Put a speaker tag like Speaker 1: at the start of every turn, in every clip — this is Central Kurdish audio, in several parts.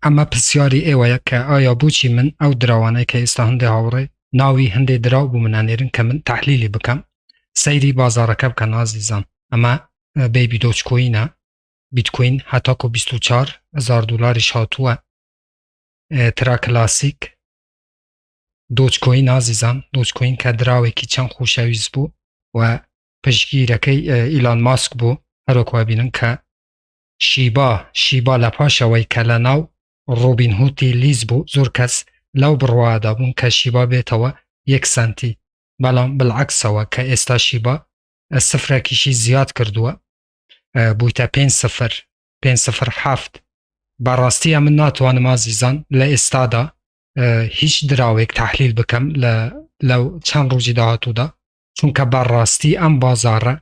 Speaker 1: ئەمە پرسیاری ئێوەیە کە ئایا بۆچی من ئەو دراوانەی کە ئێستا هەندێ هاوڕێ ناوی هەندێ دراو بۆ من ئەنێرن کە من تەحلیلی بکەم سەیری بازاڕەکە بکەن ئازیزان ئەمە بەیبی دۆج کۆینە بیتکۆین هەتاکۆ 24 هزار دلاریش هاتووە ترا کلاسیک دۆچکۆین ئازیزان دۆچکۆین کە دراوێکی چەند خۆشەویست بوو و پشگیرەکەی ئیلان ماسک بوو هەرۆکوا بینن کە شیبا، Shiba، لە پاش ئەوەی کە لە ناو ڕۆبین هوتی لیز بوو زۆر کەس لەو بڕوادا بوون کە شیبا بێتەوە یەک سەنتی بەڵام بلعکسەوە کە ئێستا شیبا سفرەکیشی زیاد کردووە بوویتە پێنج سفر پێنج سفر حەفت بەڕاستی ئەمن ناتوانم ئازیزان لە ئێستادا هیچ دراوێک تحلیل بکەم لە لەو چەند ڕۆژی داهاتوودا چونکە بەڕاستی ئەم بازارە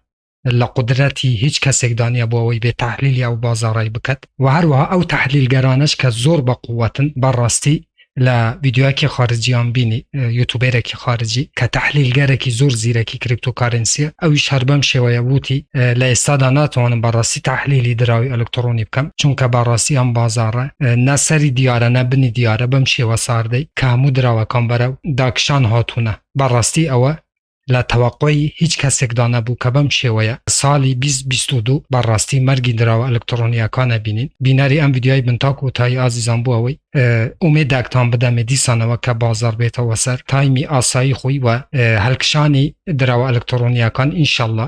Speaker 1: لە قدرەتی هیچ کەسێکدا نیە بۆ ئەوەی بێ تحلیلی ئەو بازاڕی بکات و هەروەها ئەو تحلیلگەرانش کە زۆر بە قووەتن بەڕاستی لە ویددیوەکی خارجیان بینی یوتوبێرەکی خارجی کە تحلیلگەرەێکی زۆر زیرەکی کریپتۆکارنسیە ئەوی شەر بەم شێوەیە وتی لە ئێستادا ناتوانم بەڕاستی تحلیلی دراوی ئەلکترۆنی بکەم چونکە بەڕاستی ئەم بازارە نەسەری دیارە نەبنی دیارە بەم شێوە ساردەی کامو دراوەکان بەرە داکشان هاتوونە بەڕاستی ئەوە لە تەوەقوی هیچ کەسێکدا نەبوو کە بەم شێوەیە ساڵی 2022 بەڕاستی مەرگی دراوە ئەلکترۆنیەکانە بینین بینەری ئەم یددیوای بنتاک و تای ئازیزان بوو ئەوەی ئومێداکتان بدەمێ دیسانەوە کە بازار بێتەوە سەر تایمی ئاسایی خۆی وە هەلکشانی دراوە ئەلکترۆنیەکان ئینشله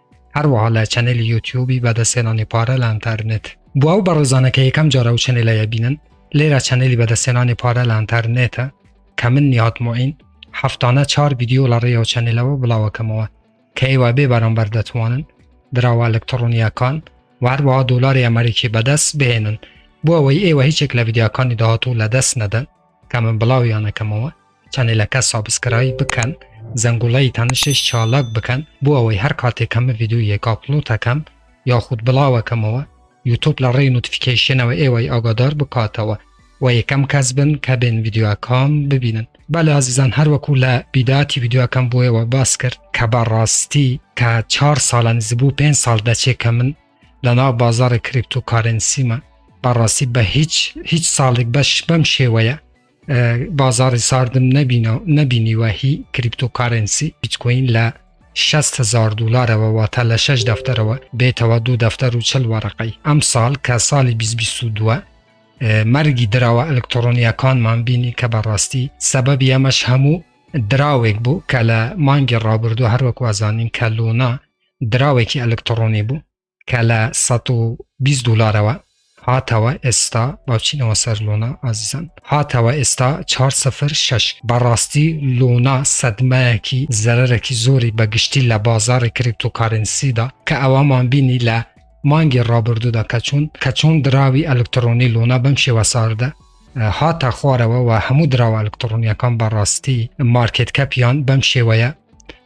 Speaker 1: هەروەها لە چەنێلی یوتیوبی بەدەستێنانی پارە لە ئەنتەرنێت بۆ ئەو بەڕێزانە کە یەکەم جارە و چەنێلەیە بینن لێرە چەنێلی بەدەستێنانی پارە لە ئەنتەرنێتە کە من نیهات معین هەفتانە چار ویددیو لە ڕێەوە چەنێلەوە بڵاوەکەمەوە کە ئێوە بێ بەرامبەر دەتوانن دراوە ئەلکترۆنیەکان و هەروەها دۆلاری ئەمریکی بەدەست بهێنن بۆ ئەوەی ئێوە هیچێک لە ویددیاکانی داهاتوو لە دەست نەدەن کە من بڵاویانەکەمەوە چەنەلەکە سابسکرایب بکەن زەنگوڵەی تەنشش چالاک بکەن بۆ ئەوەی هەر کاتێک کەمە ڤیدیۆیەک ئاپلۆتەکەم یاخود بڵاوەکەمەوە یوتوب لە ڕێی نوتفیکەیشنەوە ئێوەی ئاگادار بکاتەوە و یەکەم کەس بن کە بێن ڤیدیۆەکان ببینن بەلێ ئازیزان هەروەکو لە بیداتی ڤیدیۆەکەم بۆیەوە باس کرد کە بە ڕاستی کە چهار ساڵە نزبوو پێ ساڵ دەچێ کە من لە ناو بازارە کریپتو کارنسیمە بەڕاستی بە هیچ هیچ ساڵێک بەش بەم شێوەیە بازاری ساردم نەبینەوە نەبینیوە هی کریپتۆکارنسی بیتکۆین لە 600 هزار دلارەوە واتە لە 6 دەفتەرەوە بێتەوە دوو دەفتەر و چل وەرەقەی ئەم ساڵ کە ساڵی 2022 مەرگی دراوە ئەلکترۆنیەکانمان بینی کە بەڕاستی سەبەبی ئەمەش هەموو دراوێک بوو کە لە مانگی ڕابردوو هەروەک وازانین کە لۆنا دراوێکی ئەلکترۆنی بوو کە لە سەد و بیست دولارەوە هاتەوە ئێستا باچینەوە سەر لۆنا ئازیزان هاتەوە ئێستا چهار سفر شش بەڕاستی لۆنا سەدمایەکی زەرەرەکی زۆری بەگشتی لە بازاری کریپتۆکارنسیدا کە ئەوەمان بینی لە مانگی ڕابردوودا کە چوون کە چۆن دراوی ئەلکترۆنی لۆنا بەم شێوە ساردە هاتە خوارەوە و هەموو دراوە ئەلکترۆنیەکان بەڕاستی مارکت کەپیان بەم شێوەیە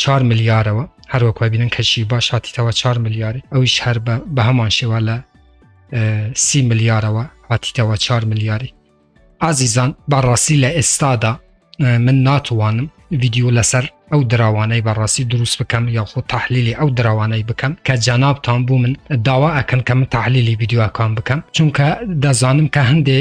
Speaker 1: چوار ملیارەوە هەر وەک وای بینن کەشی باش هاتیتەوە چوار ملیارێ ئەویش هەر بە بە هەمان شێوە لە سی ملیارەوە هاتیتەوە چوار ملیاری ئازیزان بەڕاستی لە ئێستادا من ناتوانم ویددیو لەسەر ئەو دراوانەی بەڕاستی دروست بکەم یاخۆ تحلیلی ئەو دراوانەی بکەم کە جەنابتان بوو من داوا ئەکەن کە من تحلیلی ویددیوەکان بکەم چونکە دەزانم کە هەندێ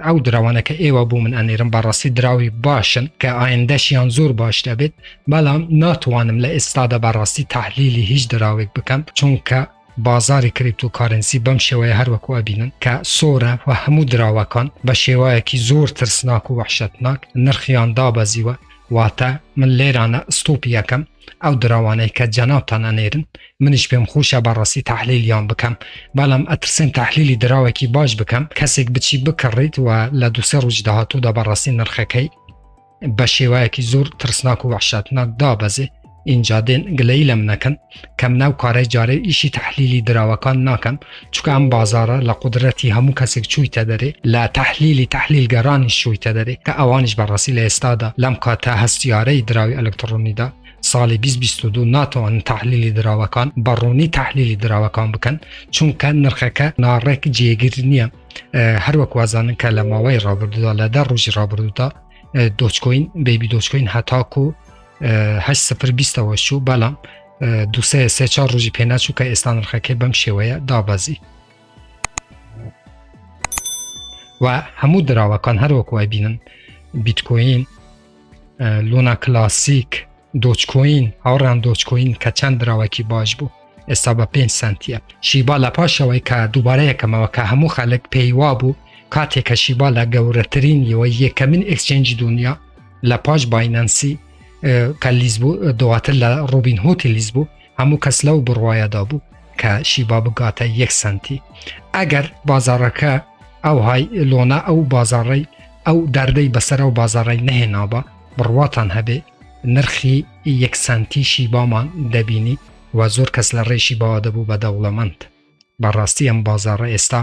Speaker 1: ئەو دراوانەکە ئێوە بوو من ئەنێرم بەڕاستی دراوی باشن کە ئایندەشیان زۆر باش دەبێت بەڵام ناتوانم لە ئێستادا بەڕاستی تحلیلی هیچ دراوێک بکەم چونکە بازاری کریپتو کارنسی بەم شێوەیە هەروەکو ئەبینن کە سۆرە و هەموو دراوەکان بە شێوایەکی زۆر ترسناک و وحشتناک نرخیان دابەزیوە واتە من لێرانە ستوپی یەکەم ئەو دراوانەی کە جەناوتان ئەنێرن منیش پێم خۆشە بەڕاستی تحلیلیان بکەم بەڵام ئەترسێن تحلیلی دراوێکی باش بکەم کەسێک بچی بکڕیت و لە دوسێ ڕووج داهاتوودا بەڕاستی نرخەکەی بە شێوایەکی زۆر ترسناک و وحشاتناک دابەزێ ئینجا دێن گلەی لەم نەکەن کەم ناو کارە جارێ ئیشی تحلیلی دراوەکان ناکەم چکە ئەم بازارە لە قدرەتی هەموو کەسێک چوویتە دەرێ لە تحلیلی تحلیلگەرانی شوویتە دەرێ کە ئەوانش بەڕاستی لە ئێستادا لەم کاتە هەستیارەی دراوی ئەلکترۆنیدا ساڵی 2022 ناتوان تحلیلی دراوەکان بەڕوونی تحلیلی دراوەکان بکەن چونکە نرخەکە ناڕێک جێگر نییە هەروەک وازانن کە لە ماوەی ڕابردودا لە دە ڕۆژی ڕابردودا دۆچکۆین بەبی دۆچکۆین هەتاکو هە سفر بیستەوە شوو بەڵام دوسێ سێ چا ڕۆژی پێناچوو کە ئێستا نرخەکەی بەم شێوەیە دابەزی و هەموو دراوەکان هەروەکو ئەبینن بیتکۆین لونا کلاسیک دۆچکۆین هاوڕان دۆچکۆین کە چەند دراوەکی باش بوو ئێستا بە 5 سنتە شیبا لە پاشەوەی کە دووبارە یەکەمەوە کە هەموو خەلک پێیوا بوو کاتێک کە شیبا لە گەورەترین یەوە یەکەمین ئکسچنج دنیا لە پاش باینەنسی کە لیز بوو دواتر لە ڕوبین هۆتی لیز بوو هەموو کەس لەو بڕواایەدا بوو کە شیبا بگاتە یەک سنتی ئەگەر بازارەکە ئەو های لۆنا ئەو بازاڕی ئەو دەردەی بەسەر ئەو بازاڕی نەهێنابە بڕواتان هەبێ نرخی یەک سنتی شیبامان دەبینی و زۆر کەس لە ڕێشی باوا دەبوو بە دەوڵەمەند بەڕاستی ئەم بازاڕە ئێستا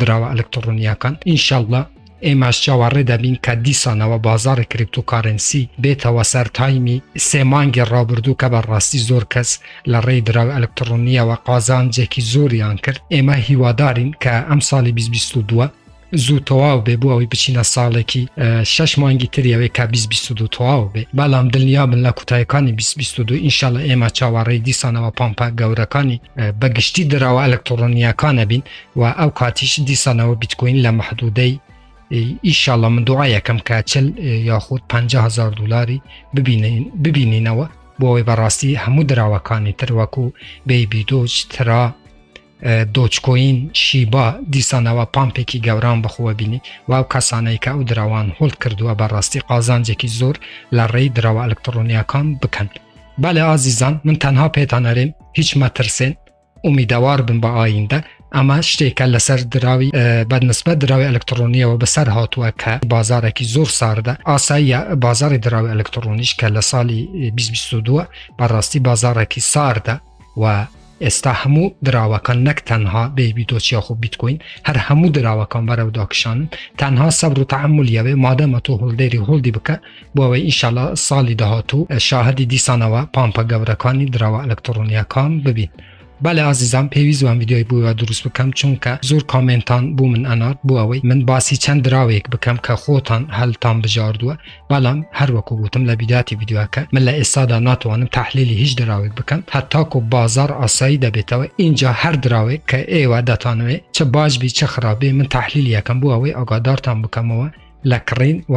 Speaker 1: دراوە ئەلکتڕۆنیاکان ئینشااللە ئێماش چاوەڕێ دەبین کە دیسانەوە بازاری کریپتوکارنسی بێتەوە سەر تایمی سێ مانگی ڕابردوو کە بە ڕاستی زۆر کەس لە ڕێی دراو ئەلکتڕۆنیەوە قازانجێکی زۆریان کرد ئێمە هیوادارین کە ئەم ساڵی 2022 زوو تەواو بێ بۆ ئەوی بچینە ساڵێکی شش مانگی تریەوەی کا 2022 تەواو بێ بەڵام دڵنیا بن لە کوتایەکانی 2022 ئینشاالله ئێمە چاوەڕێی دیسانەوە پامپا گەورەکانی بەگشتی دراوە ئەلکترۆنیەکانە بین و ئەو کاتیش دیسانەوە بیتکۆین لە محدودەی ئیشاڵە من دوعا یەکەم کە چل یاخود 500هزار دلاری ببینینەوە بۆەوەی بەڕاستی هەموو دراوەکانی تر وەکو بەیبی دۆچ ترا دۆچکۆین شیبا دیسانەوە پامپێکی گەوران بخوە بینی و ئەو کەسانەی کە ئەو دراوان هۆڵ کردووە بەڕاستی قازانجێکی زۆر لە ڕێی دراوە ئەلکترۆنیەکان بکەن بەێ ئازیزان من تەنها پێتانەرێن هیچ مەترسێن ئومیدەوار بن بە ئایندە ئەمە شتێکە لەسەر دراوی بەدمسبەت دراوی ئەلکترۆنیەوە بەسەر هاتووە کە بازارێکی زۆر ساردە ئاساییە بازاری دراوی ئەلکترۆنیش کە لە ساڵی 2022 بەڕاستی بازارێکی ساردە و ئێستا هەموو دراوەکان نەک تەنها بێبی دۆچیا خۆ بیتکوین هەر هەموو دراوەکان بەرەوداکشان تەنها سەبر و تعمل یاوێ مادەمە تۆ هەڵدێری هەڵدی بکە بۆئەوەی ئیشەڵا ساڵی داهاتوو شاهدی دیسانەوە پامپە گەورەکانی دراوە ئەلکترۆنیەکان ببین بەە ئازیزان پێویست وان یددیوی بووە دروست بکەم چونکە زۆر کامنتان بوو من ئەنات بۆ ئەوەی من باسی چەند دراوێک بکەم کە خۆتان هەلتان بژاردووە بەڵام هەروەکو گوتم لە بیداتی یددیوەکە من لە ئێستادا ناتوانم تحلیلی هیچ دراوێک بکەم هەتاکو بازار ئاسایی دەبێتەوە اینجا هەر دراوێک کە ئێوە دەتانوێت چ باش بی چ خراپێ من تحلیلیەکەم بۆ ئەوەی ئاگادارتان بکەمەوە لە کڕین و